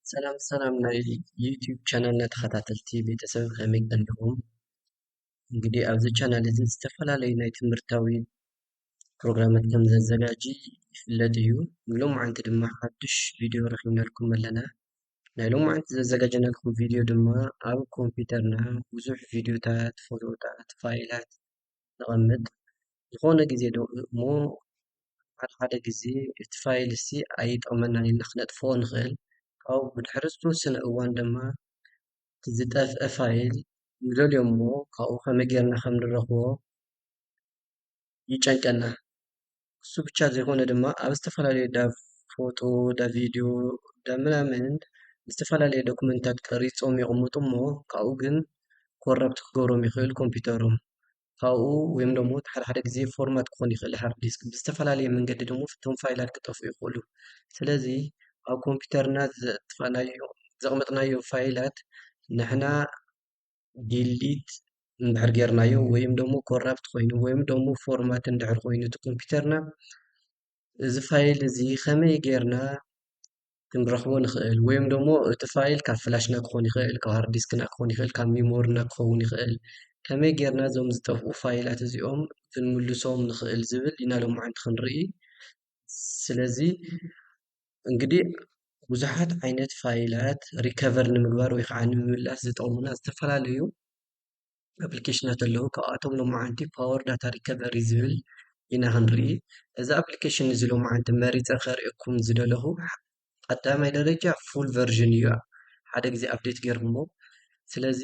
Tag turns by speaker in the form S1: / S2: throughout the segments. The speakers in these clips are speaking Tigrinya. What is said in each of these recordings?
S1: ሰላም ሰላም ናይ ዩቲዩብ ቻናልና ተኸታተልቲ ቤተሰብ ከመይ ኣለኹም? እንግዲህ ኣብዚ ቻናል እዚ ዝተፈላለዩ ናይ ትምህርታዊ ፕሮግራማት ከም ዘዘጋጂ ይፍለጥ እዩ። ሎማዓንቲ ድማ ሓዱሽ ቪድዮ ረኺብናልኩም ኣለና። ናይ ሎማዓንቲ ዘዘጋጀናልኩም ቪድዮ ድማ ኣብ ኮምፒውተርና ብዙሕ ቪድዮታት፣ ፎቶታት፣ ፋይላት ነቐምጥ ዝኾነ ጊዜ ዶ እሞ ሓደ ሓደ ጊዜ እቲ ፋይል እሲ ኣይጠቕመናን ኢልና ኽነጥፍኦ ንኽእል ካውኡ ብድሕሪ ዝተወሰነ እዋን ድማ እቲ ዝጠፍአ ፋይል ንደልዮ እሞ ካብኡ ከመይ ጌርና ኸም ንረኽቦ ይጨንቀና። እሱ ብቻ ዘይኮነ ድማ ኣብ ዝተፈላለዩ እንዳ ፎቶ እንዳ ቪድዮ እንዳ ምናምን ዝተፈላለዩ ዶክመንትታት ቀሪፆም የቅምጡ እሞ ካብኡ ግን ኮረፕት ክገብሮም ይክእል ኮምፒተሮም ካብኡ ወይም ደሞ እቲ ሓደ ሓደ ግዜ ፎርማት ክኮን ይክእል ሃርድ ዲስክ ብዝተፈላለየ መንገዲ ደሞ እቶም ፋይላት ክጠፍኡ ይክእሉ ስለዚ ኣብ ኮምፒተርና ዘጥፋእናዮ ዘቅመጥናዮ ፋይላት ንሕና ዲሊት እንድሕር ጌርናዮ ወይም ደሞ ኮራፕት ኮይኑ ወይም ደሞ ፎርማት እንድሕር ኮይኑ እቲ ኮምፒተርና እዚ ፋይል እዚ ከመይ ጌርና ክንረኽቦ ንኽእል ወይም ደሞ እቲ ፋይል ካብ ፍላሽና ክኾን ይኽእል ካብ ሃርድ ዲስክና ክኾን ይኽእል ካብ ሚሞርና ክኸውን ይኽእል ከመይ ጌርና እዞም ዝጠፍኡ ፋይላት እዚኦም ክንምልሶም ንኽእል ዝብል ኢና ሎምዓንቲ ክንርኢ ስለዚ እንግዲህ ብዙሓት ዓይነት ፋይላት ሪከቨር ንምግባር ወይ ከዓ ንምምላስ ዝጠቕሙና ዝተፈላለዩ ኣፕሊኬሽናት ኣለዉ፡፡ ካብኣቶም ሎማዓንቲ ፓወር ዳታ ሪከቨሪ ዝብል ኢና ክንርኢ፡፡ እዚ ኣፕሊኬሽን እዚ ሎማዓንቲ መሪፀ ከርእየኩም ዝደለኹ ቀዳማይ ደረጃ ፉል ቨርዥን እዩ፡፡ ሓደ ጊዜ ኣፕዴት ገይረሞ ስለዚ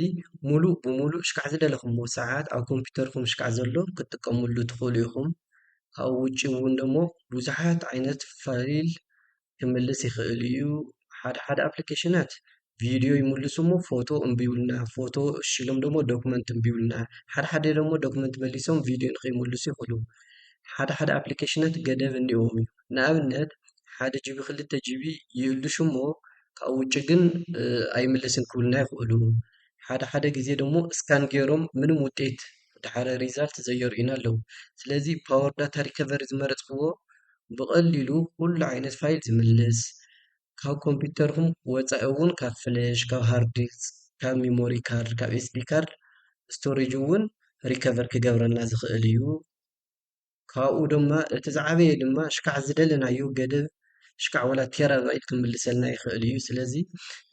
S1: ሙሉእ ብሙሉእ ሽካዕ ዝደለኹሞ ሰዓት ኣብ ኮምፒተርኩም ሽካዕ ዘሎ ክትጥቀምሉ ትኽእሉ ኢኹም። ካብኡ ውጪ እውን ደሞ ብዙሓት ዓይነት ፋይል ክምልስ ይኽእል እዩ። ሓደ ሓደ ኣፕሊኬሽናት ቪድዮ ይምልሱ እሞ ፎቶ እምቢ ይብሉና፣ ፎቶ እሺ ኢሎም ደሞ ዶክመንት እምቢ ይብሉና። ሓደ ሓደ ደሞ ዶክመንት መሊሶም ቪድዮ ንኸይምልሱ ይኽእሉ። ሓደ ሓደ ኣፕሊኬሽናት ገደብ እኒኦዎም እዩ። ንኣብነት ሓደ ጅቢ ክልተ ጅቢ ይእልሹ እሞ ካብኡ ውጪ ግን ኣይምልስን ክብሉና ይኽእሉ። ሓደ ሓደ ግዜ ደሞ ስካን ጌሮም ምንም ውጤት ደሓር ሪዛልት ዘየርእዩና ኣለዉ። ስለዚ ፓወር ዳታ ሪከቨሪ ዝመረጽክዎ ብቐሊሉ ኩሉ ዓይነት ፋይል ዝምልስ ካብ ኮምፒተርኩም ወጻኢ ውን ካብ ፍለሽ፣ ካብ ሃርድ ዲስክ፣ ካብ ሚሞሪ ካርድ፣ ካብ ኤስዲ ካርድ፣ ስቶሬጅ ውን ሪከቨር ክገብረልና ዝኽእል እዩ። ካብኡ ድማ እቲ ዝዓበየ ድማ ሽካዕ ዝደለናዮ ገደብ ሽካዕ ወላ ቴራባይት ክምልሰልና ይክእል እዩ ስለዚ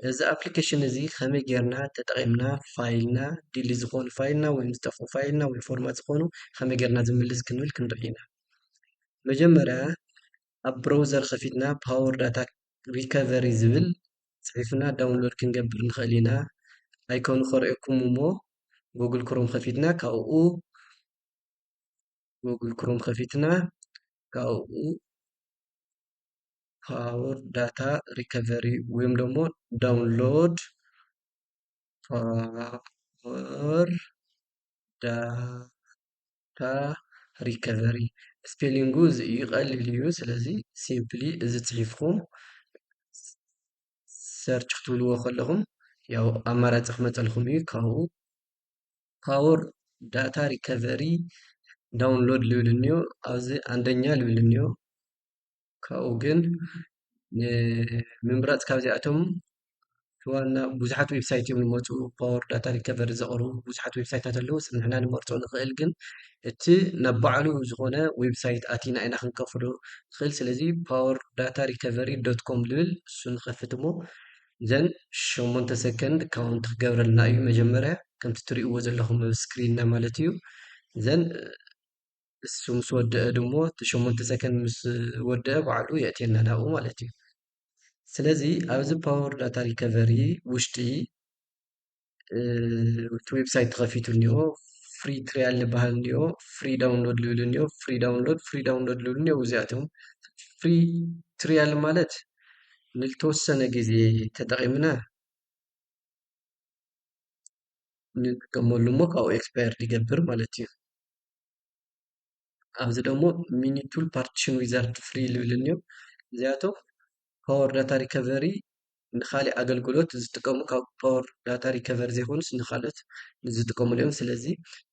S1: እዚ ኣፕሊኬሽን እዚ ከመይ ጌርና ተጠቂምና ፋይልና ዲሊ ዝኮኑ ፋይልና ወይ ዝጠፍኡ ፋይልና ወይ ፎርማት ዝኮኑ ከመይ ጌርና ዝምልስ ክንብል ክንርኢ ኢና መጀመርያ ኣብ ብሮውዘር ከፊትና ፓወር ዳታ ሪከቨሪ ዝብል ፅሒፍና ዳውንሎድ ክንገብር ንክእል ኢና ኣይኮኑ ከርእየኩም እሞ ጉግል ክሮም ከፊትና ካብኡ ጎግል ክሮም ከፊትና ካብኡ ፓወር ዳታ ሪከቨሪ ወይም ደግሞ ዳውንሎድ ፓወር ዳታ ሪከቨሪ ስፔሊንጉ እዚ እዩ ቀሊል እዩ ስለዚ ሲምፕሊ እዚ ፅሒፍኩም ሰርች ክትብልዎ ከለኹም ያው ኣማራፂ ክመፀልኩም እዩ ካብኡ ፓወር ዳታ ሪከቨሪ ዳውንሎድ ልብል እኒኦ ኣብዚ ኣንደኛ ልብል እኒኦ ካብኡ ግን ንምምራፅ ካብዚኣቶም ዋና ብዙሓት ዌብሳይት እዮም ዝመፁ ፓወር ዳታ ሪከቨሪ ዘቕርቡ ብዙሓት ዌብሳይታት ኣለዉ ንሕና ንመርፆ ንኽእል ግን እቲ ናብ ባዕሉ ዝኾነ ዌብሳይት ኣቲና ኢና ክንከፍሎ ንኽእል ስለዚ ፓወር ዳታ ሪከቨሪ ዶት ኮም ልብል እሱ ንኸፍት እሞ ዘን ሸሞንተ ሰከንድ ካውንት ክገብረልና እዩ መጀመርያ ከምቲ ትሪእዎ ዘለኹም ኣብ ስክሪንና ማለት እዩ ዘን እሱ ምስ ወደአ ድሞ እቲ ሸሞንተ ሰከንድ ምስ ወደአ ባዕሉ የእትየና ናብኡ ማለት እዩ ስለዚ ኣብዚ ፓወር ዳታ ሪከቨሪ ውሽጢ እቲ ዌብሳይት ተኸፊቱ እኒኦ ፍሪ ትሪያል ዝበሃል እኒኦ ፍሪ ዳውንሎድ ዝብል እኒኦ ፍሪ ዳውንሎድ ፍሪ ዳውንሎድ ዝብል እኒኦ እዚኣቶም ፍሪ ትሪያል ማለት ንልተወሰነ ግዜ ተጠቒምና ንጥቀመሉ እሞ ካብኡ ኤክስፓየርድ ይገብር ማለት እዩ። ኣብዚ ደሞ ሚኒ ቱል ፓርቲሽን ዊዛርድ ፍሪ ልብልኒ እዮም እዚኣቶም ፓወር ዳታ ሪከቨሪ ንካሊእ ኣገልግሎት ዝጥቀሙ ካብ ፓወር ዳታ ሪከቨሪ ዘይኮኑስ ንካልኦት ዝጥቀሙሉ እዮም ስለዚ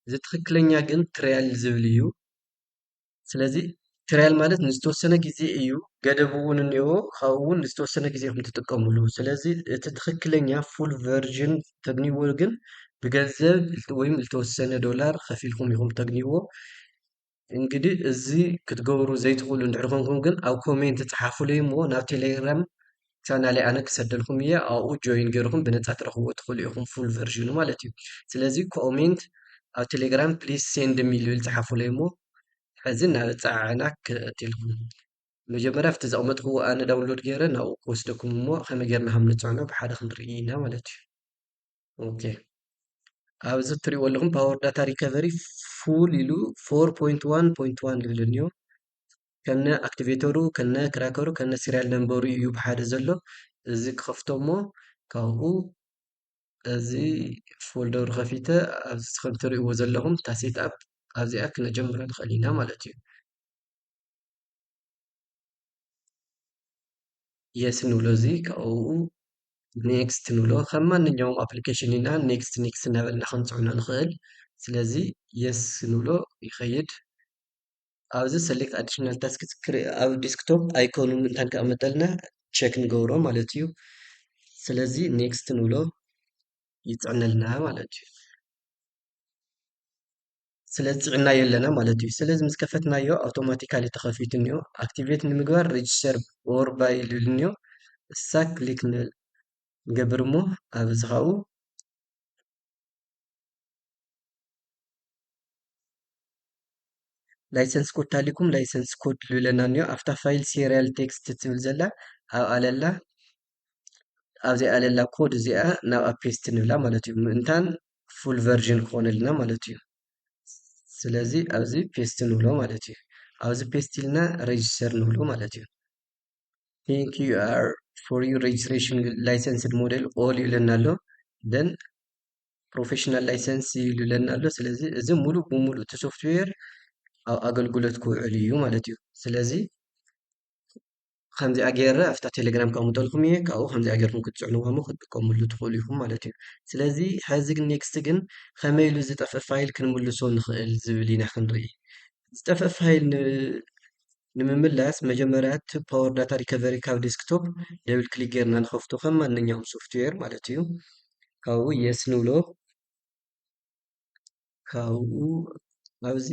S1: እዚ ትክክለኛ ግን ትሪያል ዝብል እዩ ስለዚ ትሪያል ማለት ንዝተወሰነ ግዜ እዩ ገደብ እውን እኒኦ ካብኡ እውን ንዝተወሰነ ግዜ ኢኹም ትጥቀሙሉ ስለዚ እቲ ትክክለኛ ፉል ቨርዥን ተግንይዎ ግን ብገንዘብ ወይም ልተወሰነ ዶላር ኸፊልኩም ኢኹም ተግንይዎ እንግዲ እዝ ኽትገብሩ ዘይትኽሉ ንድሕርኹንኩም ግን ኣብ ኮሜንቲ ፀሓፉለይ እሞ ናብ ተሌግራም ቻናል ኣነ ክሰደልኩም እየ ኣኡ ጆይን ገይርኹም ብነፃ ትረኽዎ ትኽሉ ኢኹም ፉል ቨርዥኑ ማለት እዩ ስለዚ ኮሜንት ኣብ ቴሌግራም ፕሊስ ሴንድ ሚልብል ፀሓፉለይ እሞ ሕዚ ናብ ፀዓዕና ክእትልኹም መጀመርያ ኣብቲ ዘቅመጥክዎ ኣነ ዳውንሎድ ገይረ ናብኡ ክወስደኩም እሞ ከመይ ጌርና ከም ንጽዕኖ ብሓደ ክንርኢ ኢና ማለት እዩ ኦኬ ኣብዚ እትሪእዎ ኣለኹም ፓወር ዳታ ሪከቨሪ ፉል ኢሉ 4.1.1 ዝብል እንዮ ከነ ኣክቲቬተሩ ከነ ክራከሩ ከነ ሲሪያል ነንበሩ እዩ ብሓደ ዘሎ እዚ ክኸፍቶ እሞ ካብኡ እዚ ፎልደሩ ከፊተ ኣብዚ ከም እትሪእዎ ዘለኹም እታ ሴት ኣፕ ኣብዚኣ ክነጀምራ ንኽእል ኢና ማለት እዩ የስ ንብሎ እዚ ካብኡ ኔክስት ንብሎ ከም ማንኛውም ኣፕሊኬሽን ኢና ኔክስት ኔክስት እናበልና ክንፅዕኖ ንኽእል ስለዚ የስ ንብሎ ይኸይድ ኣብዚ ሰሌክት ኣዲሽናል ታስክስ ኣብ ዴስክቶፕ ኣይኮኑ ምእንታን ከቕምጠልና ቼክ ንገብሮ ማለት እዩ ስለዚ ኔክስት ንብሎ ይፅዕነልና ማለት እዩ። ስለ ፅዕናዮ ኣለና ማለት እዩ። ስለዚ ምስ ከፈትናዮ ኣውቶማቲካሊ ተኸፊቱ እኒኦ ኣክቲቬት ንምግባር ሬጅስተር ኦር ባይ ልብል እኒኦ እሳ ክሊክ ንገብር እሞ ኣብ እዚ ካብኡ ላይሰንስ ኮድ ታሊኩም ላይሰንስ ኮድ ልብለና እኒኦ ኣብታ ፋይል ሴሪያል ቴክስት ትብል ዘላ ኣብ ኣለላ ኣብዚኣ ኣለላ ኮድ እዚኣ ናብኣ ፔስት ንብላ ማለት እዩ ምእንታን ፉል ቨርዥን ክኾነልና ማለት እዩ። ስለዚ ኣብዚ ፔስት ንብሎ ማለት እዩ። ኣብዚ ፔስት ኢልና ሬጅስተር ንብሎ ማለት እዩ። ቴንክ ዩ ኣር ፎር ዩ ሬጅስትሬሽን ላይሰንስድ ሞዴል ኦል ይብለና ኣሎ ደን ፕሮፌሽናል ላይሰንስ ይብለና ኣሎ። ስለዚ እዚ ሙሉእ ብሙሉእ እቲ ሶፍትዌር ኣብ ኣገልግሎት ክውዕል እዩ ማለት እዩ። ስለዚ ከምዚኣ ገይረ ኣብታ ቴሌግራም ከምጠልኩም እየ ካብኡ ከምዚኣ ገይርኩም ክትፅዕንዋ እሞ ክትጥቀምሉ ትኽእሉ ኢኹም ማለት እዩ ስለዚ ሕዚ ግን ኔክስት ግን ከመይ ኢሉ ዝጠፍእ ፋይል ክንምልሶ ንኽእል ዝብል ኢና ክንርኢ ዝጠፍእ ፋይል ንምምላስ መጀመሪያ እቲ ፓወር ዳታ ሪከቨሪ ካብ ዴስክቶፕ ደብል ክሊክ ጌርና ንኸፍቶ ከም ማንኛውም ሶፍትዌር ማለት እዩ ካብኡ የስ ንብሎ ካብኡ ኣብዚ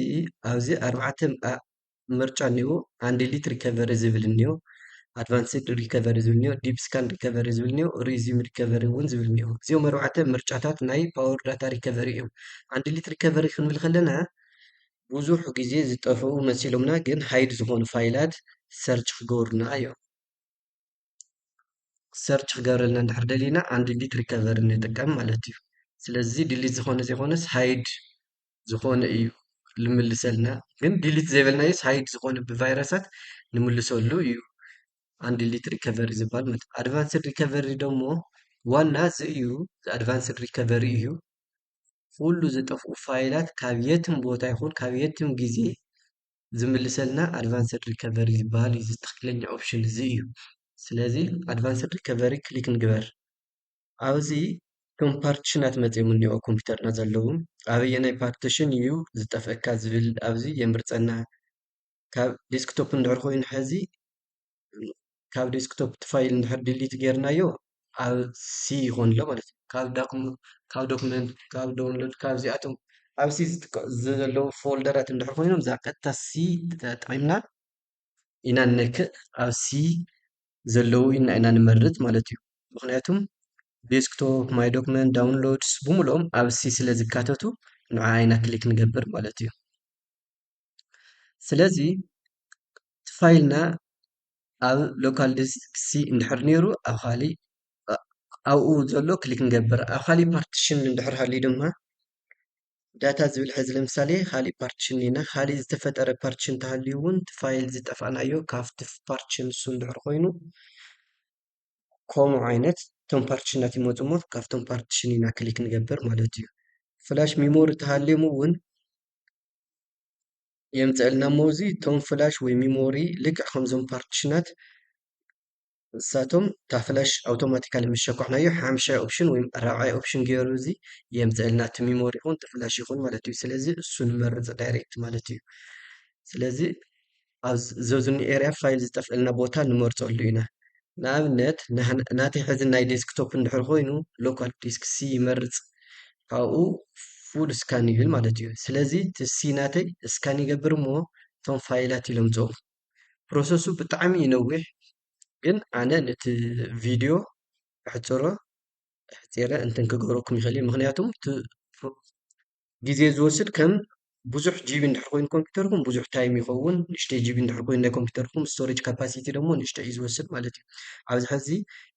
S1: ኣብዚ ኣርባዕተ ምርጫ እኒኦ ሃንድሊት ሪከቨሪ ዝብል እኒኦ ኣድቫንስድ ሪከቨሪ ዝብል እኒኦ ዲፕ ስካን ሪከቨሪ ዝብል እኒኦ ሪዚም ሪከቨሪ እውን ዝብል እኒኦ እዚኦም ኣርባዕተ ምርጫታት ናይ ፓወር ዳታ ሪከቨሪ እዮም ሃንድሊት ሪከቨሪ ክንብል ከለና ብዙሕ ግዜ ዝጠፍኡ መሲሎምና ግን ሃይድ ዝኾኑ ፋይላት ሰርች ክገብሩና እዮም ሰርች ክገብረልና እንድሕር ደሊና ኣን ዲሊት ሪከቨሪ ንጥቀም ማለት እዩ ስለዚ ዲሊት ዝኾነ ዘይኮነስ ሃይድ ዝኾነ እዩ ልምልሰልና ግን ዲሊት ዘይበልናዮስ ሃይድ ዝኾነ ብቫይረሳት ንምልሰሉ እዩ ኣን ዲሊት ሪከቨሪ ዝበሃል ማለት እዩ ኣድቫንስድ ሪከቨሪ ደሞ ዋና እዚ እዩ ኣድቫንስድ ሪከቨሪ እዩ ኩሉ ዝጠፍኡ ፋይላት ካብ የትም ቦታ ይኹን ካብ የትም ግዜ ዝምልሰልና ኣድቫንስድ ሪከቨሪ ዝበሃል እዩ እዚ ትኽክለኛ ኦፕሽን እዚ እዩ። ስለዚ ኣድቫንስድ ሪከቨሪ ክሊክ ንግበር። ኣብዚ እቶም ፓርቲሽናት መፂኦም እኒኦ ኣብ ኮምፒውተርና ዘለዉ ኣበየናይ ፓርቲሽን እዩ ዝጠፍአካ ዝብል ኣብዚ የምርፀና። ካብ ዴስክቶፕ እንድሕር ኮይኑ ሐዚ ካብ ዴስክቶፕ እቲ ፋይል እንድሕር ዲሊት ጌርናዮ ኣብ ሲ ይኾን ኣሎ ማለት እዩ። ካብ ዳኩም ካብ ዶክመንት ካብ ዶውንሎድ ካብ እዚኣቶም ኣብ ሲ ዘለዉ ፎልደራት እንድሕር ኮይኖም እዛ ቀጥታ ሲ ተጠቒምና ኢና ንነክእ ኣብ ሲ ዘለዉ ኢና ኢና ንመርጽ ማለት እዩ። ምክንያቱም ዴስክቶፕ ማይ ዶክመንት ዳውንሎድስ ብምልኦም ኣብ ሲ ስለ ዝካተቱ ንዓ ኢና ክሊክ ንገብር ማለት እዩ። ስለዚ እቲ ፋይልና ኣብ ሎካል ዲስክ ሲ እንድሕር ኔሩ ኣብ ኻሊእ ኣብኡ ዘሎ ክሊክ ንገብር ኣብ ኻሊእ ፓርቲሽን እንድሕር ሃልዩ ድማ ዳታ ዝብል ሕዚ ለምሳሌ ኻሊእ ፓርቲሽን እኒኤና ኻሊእ ዝተፈጠረ ፓርቲሽን እንተሃልዩ እውን እቲ ፋይል ዝጠፋእናዮ ካብቲ ፓርቲሽን ንሱ እንድሕር ኾይኑ ከምኡ ዓይነት እቶም ፓርቲሽናት ይመፁ እሞ ካብቶም ፓርቲሽን ኢና ክሊክ ንገብር ማለት እዩ ፍላሽ ሚሞሪ ተሃልዮም እውን የምፀእልና እሞ እዚ እቶም ፍላሽ ወይ ሚሞሪ ልክዕ ከምዞም ፓርቲሽናት ንሳቶም እታ ፍላሽ ኣውቶማቲካሊ ምስ ሸኳዕናዮ ሓምሻይ ኦፕሽን ወይ ራብዓይ ኦፕሽን ገይሩ እዚ የምፀእልና እቲ ሚሞሪ ይኹን እቲ ፍላሽ ይኹን ማለት እዩ ስለዚ እሱ ንመርፅ ዳይሬክት ማለት እዩ ስለዚ ኣብ ዘዝኑ ኤርያ ፋይል ዝጠፍእልና ቦታ ንመርጸሉ ኢና። ንኣብነት ናተይ ሕዚ ናይ ዴስክቶፕ እንድሕር ኮይኑ ሎካል ዲስክ ሲ ይመርጽ ካብኡ ፉል ስካን ይብል ማለት እዩ። ስለዚ እቲ ሲ ናተይ ስካን ይገብር እሞ እቶም ፋይላት ይለምጾም። ፕሮሰሱ ብጣዕሚ እዩ ነዊሕ ግን ኣነ ነቲ ቪድዮ ኣሕጽሮ ኣሕጺረ እንትን ክገብረኩም ይኽእል እየ ምኽንያቱም እቲ ግዜ ዝወስድ ከም ብዙሕ ጂቢ እንድሕር ኮይኑ ኮምፒተርኩም ብዙሕ ታይም ይኸውን፣ ንእሽተይ ጂቢ እንድሕር ኮይኑ ናይ ኮምፒተርኩም ስቶሬጅ ካፓሲቲ ደሞ ንእሽተይ እዩ ዝወስድ ማለት እዩ። ኣብዚ ሕዚ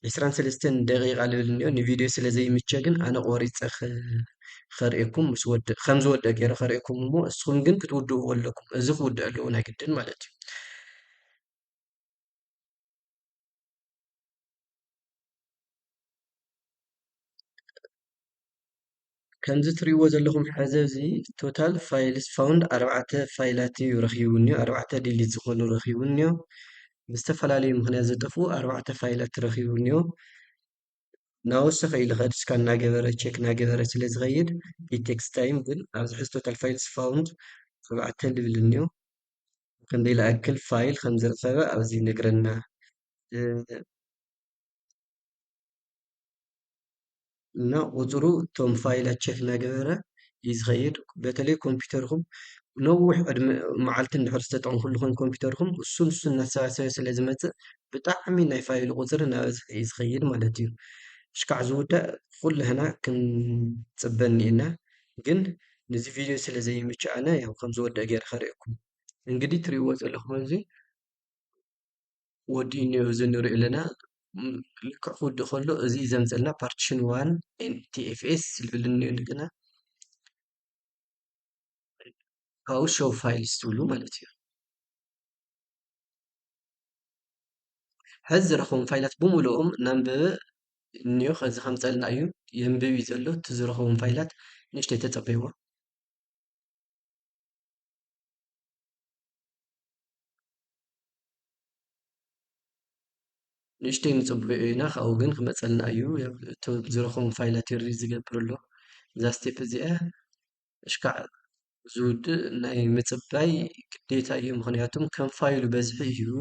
S1: ዕስራን ሰለስተን ደቂቓ ልብል እንኦ ንቪድዮ ስለ ዘይምቸ ግን ኣነ ቆሪፀ ከርእየኩም ምስ ወድእ ከም ዝወድእ ገይረ ከርእየኩም እሞ እስኹም ግን ክትውድእዎ ኣለኩም። እዚ ክውድእ ኣለዎ ናይ ግድን ማለት እዩ። ከምዚ ትሪእዎ ዘለኹም ሐዚ እዚ ቶታል ፋይልስ ፋውንድ ኣርባዕተ ፋይላት እዩ ረኺቡኒ ኣርባዕተ ዲሊት ዝኾኑ ረኺቡኒ እዩ ብዝተፈላለዩ ምኽንያት ዝጠፍኡ ኣርባዕተ ፋይላት ረኺቡኒ እዩ ናወሰኸ ኢሉ ከድ እስካ እናገበረ ቼክ እናገበረ ስለ ዝኸይድ ኢት ቴክስ ታይም ግን ኣብዚ ሕዚ ቶታል ፋይልስ ፋውንድ ኣርባዕተ ልብልኒ እዩ ክንደይ ልኣክል ፋይል ከምዝረኸበ ኣብዚ ይነግረና። እና ቁፅሩ እቶም ፋይላት ቸክ እናገበረ እዩ ዝኸይድ። በተለይ ኮምፒውተርኩም ነዊሕ ዕድመ መዓልቲ እንድሕር ዝተጠቐምኩሉ ኮይኑ ኮምፒውተርኩም እሱን እሱን እናተሰባሰበ ስለ ዝመፅእ ብጣዕሚ ናይ ፋይል ቁፅሪ እናበዝሐ እዩ ዝኸይድ ማለት እዩ። እሽካዕ ዝውዳእ ኩላህና ክንፅበ እኒኤና ግን ነዚ ቪድዮ ስለ ዘይምችኣነ ያው ከም ዝወድእ ገይረ ከርእየኩም እንግዲህ ትሪእዎ ዘለኹም እዚ ወዲኡ እኒኦ እዚ ንሪኦ ኣለና ልክዕ ክውድእ ከሎ እዚ ዘምፀልና ፓርቲሽን ዋን ኤንቲኤፍኤስ ዝብል እኒኦ እንደገና ካብኡ ሾው ፋይልስ ትብሉ ማለት እዩ ሕዚ ዝረኽቦም ፋይላት ብምልኦም ነንብብ እኒኦ ከዚ ከምፀልና እዩ የንብብ እዩ ዘሎ እቲ ዝረኽቦም ፋይላት ንእሽተይ ተፀበይዎ ንእሽተይ ንፅበዮ ኢና ካብኡ ግን ክመፀልና እዩ እቶም ዝረኽቦም ፋይላት ይሪ ዝገብር ኣሎ እዛ ስቴፕ እዚኣ እሽካዕ ዝውድእ ናይ ምጽባይ ግዴታ እዩ ምክንያቱም ከም ፋይሉ በዝሒ እዩ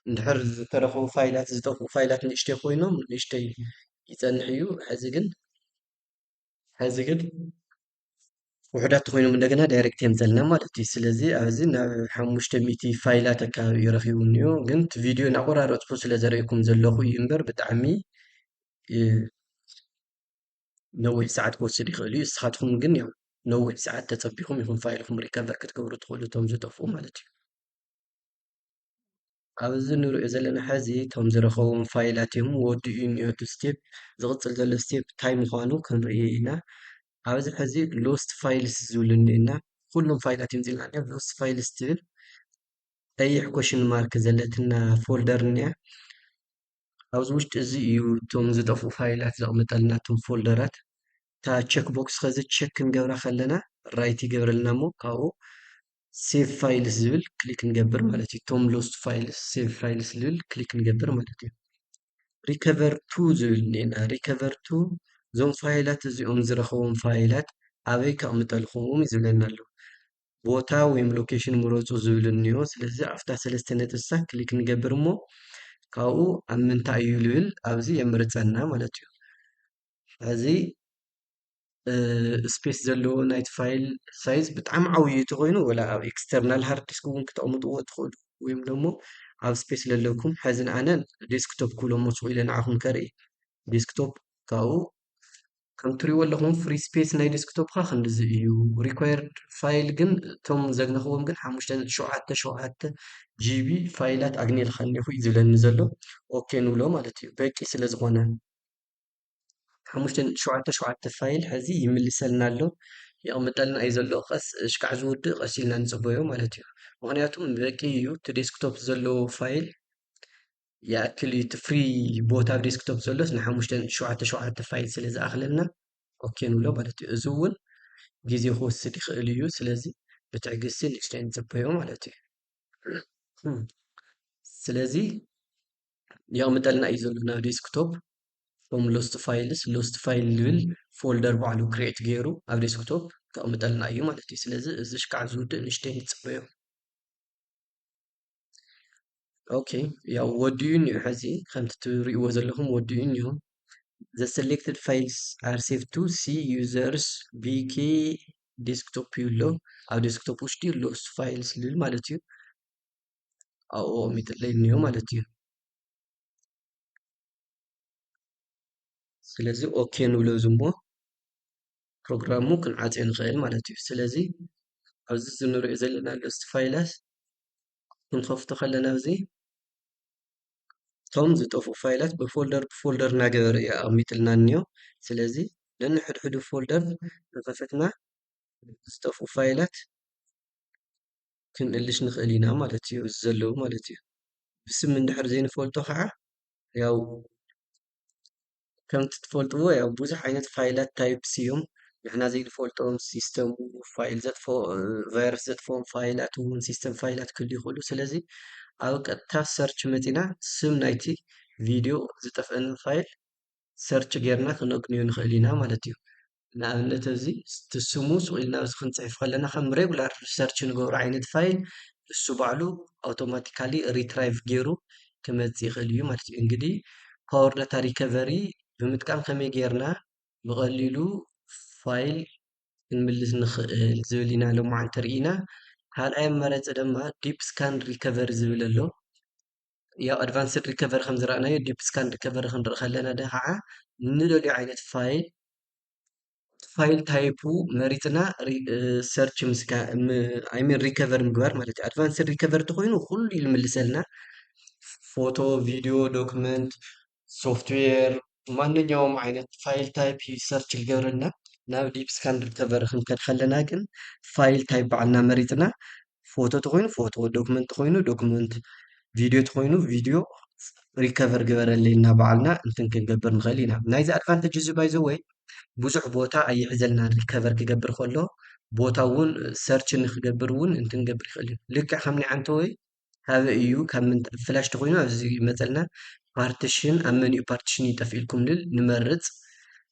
S1: እንድሕር ዝተረኽቡ ፋይላት ዝጠፍኡ ፋይላት ንእሽተይ ኮይኖም ንእሽተይ ይጸንሕ እዩ ሕዚ ግን ሕዚ ግን ውሕዳት ተኮይኖም እንደገና ዳይሬክት የምጸልና ማለት እዩ ስለዚ ኣብዚ ናብ ሓሙሽተ ሚእቲ ፋይላት ኣካባቢ እዩ ረኪቡ እኒኦ ግን እቲ ቪድዮ እናቆራረፅኩ ስለ ዘርእኩም ዘለኹ እዩ እምበር ብጣዕሚ ነዊሕ ሰዓት ክወስድ ይኽእል እዩ። እስኻትኩም ግን ያው ነዊሕ ሰዓት ተጸቢኹም ኢኹም ፋይልኹም ሪከቨር ክትገብሩ ትኽእሉ እቶም ዝጠፍኡ ማለት እዩ። ኣብዚ ንሪኦ ዘለና ሕዚ እቶም ዝረኸቦም ፋይላት እዮም ወዲኡ እኒኦ እቲ ስቴፕ ዝቕፅል ዘሎ ስቴፕ እንታይ ምዃኑ ክንርኢ ኢና ኣብዚ ሕዚ ሎስት ፋይልስ ዝብል እኒና ኩሎም ፋይላት እዮም ዝብልና እኒኦ ሎስት ፋይልስ ትብል ቀይሕ ኮሽን ማርክ ዘለትና ፎልደር እኒኣ ኣብዚ ውሽጢ እዚ እዩ እቶም ዝጠፍኡ ፋይላት ዘቕምጠልና እቶም ፎልደራት እታ ቸክ ቦክስ ከዚ ቸክ ክንገብራ ከለና ራይት ይገብረልና እሞ ካብኡ ሴቭ ፋይልስ ዝብል ክሊክ ንገብር ማለት እዩ እቶም ሎስት ፋይልስ ሴቭ ፋይልስ ዝብል ክሊክ ንገብር ማለት እዩ ሪከቨር ቱ ዝብል እኒኤና ሪከቨር ቱ እዞም ፋይላት እዚኦም ዝረኸቦም ፋይላት ኣበይ ከቕምጠልኹም እዩ ዝብለና ኣሎ ቦታ ወይም ሎኬሽን ምረፁ ዝብል እኒኦ ስለዚ ኣብታ ሰለስተ ነጥቢ ንሳ ክሊክ ንገብር እሞ ካብኡ ኣብ ምንታይ እዩ ዝብል ኣብዚ የምርፀና ማለት እዩ እዚ ስፔስ ዘለዎ ናይቲ ፋይል ሳይዝ ብጣዕሚ ዓብዪ ተኮይኑ ወላ ኣብ ኤክስተርናል ሃርድ ዲስክ እውን ክተቕምጥዎ ትኽእሉ ወይም ደሞ ኣብ ስፔስ ዘለኩም ሕዚ ንኣነ ዴስክቶፕ ክብሎ መስኩ ኢለ ንዓኹም ከርኢ ዴስክቶፕ ካብኡ ከም ትሪእዎ ኣለኹም ፍሪ ስፔስ ናይ ዴስክቶፕካ ክንድዚ እዩ ሪኳየርድ ፋይል ግን እቶም ዘግነኽዎም ግን ሓሙሽተ ነጥቢ ሸውዓተ ሸውዓተ ጂቢ ፋይላት ኣግኒልካ እኒኹ እዩ ዝብለኒ ዘሎ ኦኬ ንብሎ ማለት እዩ በቂ ስለ ዝኾነ ሓሙሽተ ነጥቢ ሸውዓተ ሸውዓተ ፋይል ሕዚ ይምልሰልና ኣሎ የቕምጠልና እዩ ዘሎ ቀስ ሽካዕ ዝውድእ ቀስ ኢልና ንፅበዮ ማለት እዩ ምክንያቱም በቂ እዩ እቲ ዴስክቶፕ ዘለዎ ፋይል ይኣክል እዩ እቲ ፍሪ ቦታ ኣብ ዴስክቶፕ ዘሎስ ንሓሙሽተ ሸውዓተ ሸውዓተ ፋይል ስለ ዝኣኽለና ኦኬ ንብሎ ማለት እዩ እዚ እውን ግዜ ክወስድ ይኽእል እዩ ስለዚ ብትዕግስቲ ንእሽተይ ንጽበዮ ማለት እዩ ስለዚ የቕምጠልና እዩ ዘሎ ናብ ዴስክቶፕ ቶም ሎስት ፋይልስ ሎስት ፋይል ዝብል ፎልደር ባዕሉ ክሬት ገይሩ ኣብ ዴስክቶፕ ከቕምጠልና እዩ ማለት እዩ ስለዚ እዚ ሽካዕ ዝውድእ ንሽተይ ንፅበዮ ኦኬ ያው ወዲኡን እዩ ሕዚ ከምቲ ትሪእዎ ዘለኹም ወዲኡን እዩ the selected files are saved to c users vk desktop እዩ ኣሎ ኣብ ዴስክቶፕ ውሽጢ ኣሎ እሱ ፋይል ስልል ማለት እዩ ኣብኡ ሚጥለይ እንዮ ማለት እዩ ስለዚ ኦኬ ንብሎ እዚ እሞ ፕሮግራሙ ክንዓፅዮ ንኽእል ማለት እዩ ስለዚ ኣብዚ ዝንሪኦ ዘለና ገፅቲ ፋይላት ክንከፍቶ ከለና እዚ እቶም ዝጠፍኡ ፋይላት ብፎልደር ብፎልደር እናገበረ እዩ ኣቐሚጥልና እኒኦ ስለዚ ነንሕድሕዱ ፎልደር እናኸፈትና ዝጠፍኡ ፋይላት ክንእልሽ ንኽእል ኢና ማለት እዩ እዚ ዘለዉ ማለት እዩ ብስም እንድሕር ዘይንፈልጦ ከዓ ያው ከምቲ ትፈልጥዎ ያው ብዙሕ ዓይነት ፋይላት ታይፕስ እዮም ንሕና ዘይንፈልጦም ሲስተም ፋይል ዘጥፎ ቫይረስ ዘጥፎም ፋይላት እውን ሲስተም ፋይላት ክህሉ ይኽእሉ ስለዚ ኣብ ቀጥታ ሰርች መፂና ስም ናይቲ ቪድዮ ዝጠፍአና ፋይል ሰርች ጌርና ክነግንዮ ንኽእል ኢና ማለት እዩ ንኣብነት እዚ እቲ ስሙ ስቕ ኢልና ኣብዚ ክንጽሕፍ ከለና ከም ሬጉላር ሰርች ንገብሮ ዓይነት ፋይል ንሱ ባዕሉ ኣውቶማቲካሊ ሪትራይቭ ገይሩ ክመጽእ ይኽእል እዩ ማለት እዩ። እንግዲህ ፓወር ዳታ ሪከቨሪ ብምጥቃም ከመይ ጌርና ብቐሊሉ ፋይል ክንምልስ ንኽእል ዝብል ኢና ሎማዓንቲ ርኢና። ካልኣይ ኣማራጺ ድማ ዲፕ ስካን ሪከቨሪ ዝብል ኣሎ። ያው ኣድቫንስድ ሪከቨሪ ከም ዝረኣናዮ ዲፕ ስካን ሪከቨሪ ክንርኢ ከለና ከዓ ንደልዮ ዓይነት ፋይል ፋይል ታይፑ መሪፅና ሰርች ኣይሚን ሪከቨሪ ምግባር ማለት እዩ ኣድቫንስድ ሪከቨሪ ተኮይኑ ኩሉ ይልምልሰልና ፎቶ ቪድዮ ዶክመንት ሶፍትዌር ማንኛውም ዓይነት ፋይል ታይፕ እዩ ሰርች ዝገብረልና ናብ ዲፕ ስካን ሪከቨሪ ክንከድ ከለና ግን ፋይል ታይፕ ባዕልና መሪፅና ፎቶ ተኮይኑ ፎቶ ዶክመንት ተኮይኑ ዶክመንት ቪድዮ ተኮይኑ ቪድዮ ሪከቨር ግበረለይ እና ባዕልና እንትን ክንገብር ንክእል ኢና ናይዚ ኣድቫንቴጅ እዚ ባይዘ ወይ ብዙሕ ቦታ ኣይሕዘልና ሪከቨር ክገብር ከሎ ቦታ እውን ሰርች ንክገብር እውን እንትንገብር ይክእል እዩ ልክዕ ከም ናይ ዓንተ ወይ ካበይ እዩ ካብ ምንታይ ፍላሽ ተኾይኑ ኣብዚ ይመፀልና ፓርቲሽን ኣብ መን እዩ ፓርቲሽን እዩ ጠፊኡልኩም ንብል ንመርፅ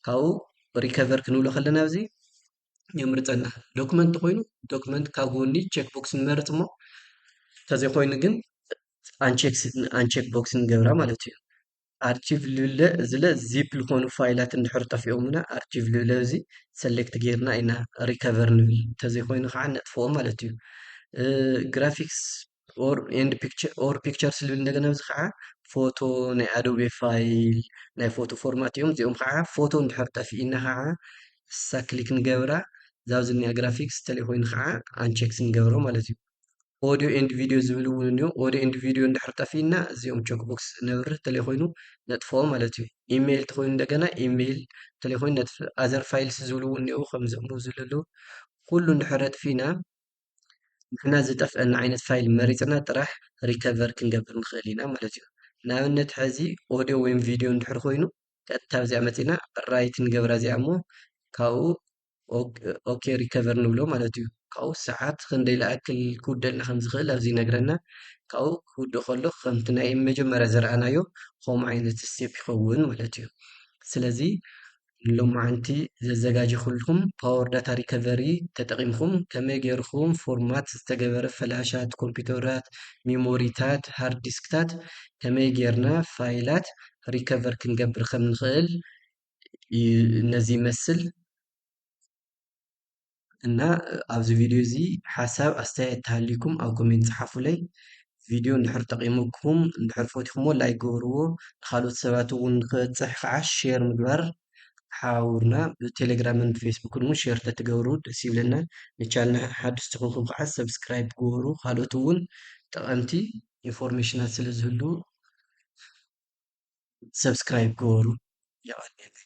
S1: ካብኡ ሪከቨር ክንብሎ ከለና ኣብዚ የምርፀና ዶክመንት ተኾይኑ ዶክመንት ካብ ጎኒ ቼክ ቦክስ ንመርፅ እሞ ተዘይኮይኑ ግን ኣንቼክ ቦክስ ንገብራ ማለት እዩ ኣርቺቭ ልብለ እዚለ ዚፕ ልኾኑ ፋይላት እንድሕር ጠፊኦምና ኣርቺቭ ልብለ እዚ ሰሌክት ጌርና ኢና ሪከቨር ንብል እንተዘይኮይኑ ከዓ ነጥፍኦ ማለት እዩ ግራፊክስ ኦር ኤንድ ፒክቸር ኦር ፒክቸርስ ልብል እንደገና እዚ ከዓ ፎቶ ናይ ኣዶቤ ፋይል ናይ ፎቶ ፎርማት እዮም እዚኦም ከዓ ፎቶ እንድሕር ጠፊእና ከዓ እሳ ክሊክ ንገብራ እዛ ዝኒኣ ግራፊክስ ተለይኮይኑ ከዓ ኣንቸክስ ንገብሮ ማለት እዩ ኦድዮ ኤንድ ቪድዮ ዝብል እውን እንዮ ኦድዮ ኤንድ ቪድዮ እንድሕር ጠፊእና እዚኦም ቸክ ቦክስ ነብርህ ተለይኮይኑ ነጥፎ ማለት እዩ ኢሜይል ተኮይኑ እንደገና ኢሜይል ተለይኮይኑ ነጥፍ ኣዘር ፋይልስ ዝብሉ እውን እኒኦ ከምዚኦም ዝብሉ ኣለዉ ኩሉ እንድሕር ኣጥፊእና ንሕና ዝጠፍአና ዓይነት ፋይል መሪፅና ጥራሕ ሪከቨር ክንገብር ንኽእል ኢና ማለት እዩ ንኣብነት ሕዚ ኦድዮ ወይም ቪድዮ እንድሕር ኮይኑ ቀጥታ ኣብዚኣ መፂና ራይት ንገብራ እዚኣ እሞ ካብኡ ኦኬ ሪከቨር ንብሎ ማለት እዩ ካብኡ ሰዓት ክንደይ ለኣክል ክውደልና ከም ዝኽእል ኣብዚ ይነግረና ካብኡ ክውደ ከሎ ከምቲ ናይ መጀመርያ ዘረኣናዮ ከምኡ ዓይነት ስቴፕ ይኸውን ማለት እዩ ስለዚ ሎማዓንቲ ዘዘጋጀኹልኩም ፓወር ዳታ ሪከቨሪ ተጠቒምኩም ከመይ ገይርኩም ፎርማት ዝተገበረ ፈላሻት ኮምፒውተራት ሚሞሪታት ሃርድ ዲስክታት ከመይ ገይርና ፋይላት ሪከቨር ክንገብር ከም ንኽእል ነዚ ይመስል እና ኣብዚ ቪድዮ እዚ ሓሳብ ኣስተያየት ተሃልዩኩም ኣብ ኮሜንት ፀሓፉለይ ቪድዮ እንድሕር ጠቂሙኩም እንድሕር ፈትኹሞ ላይክ ግበርዎ ንካልኦት ሰባት እውን ንክበፅሕ ከዓ ሼር ምግባር ሓውርና ብቴሌግራምን ብፌስቡክን እውን ሼር ተትገብሩ ደስ ይብለና ንቻልና ሓድሽ ትኾንኩም ከዓ ሰብስክራይብ ግበሩ ካልኦት እውን ጠቐምቲ ኢንፎርሜሽናት ስለ ዝህሉ ሰብስክራይብ ግበሩ የቀንየለይ።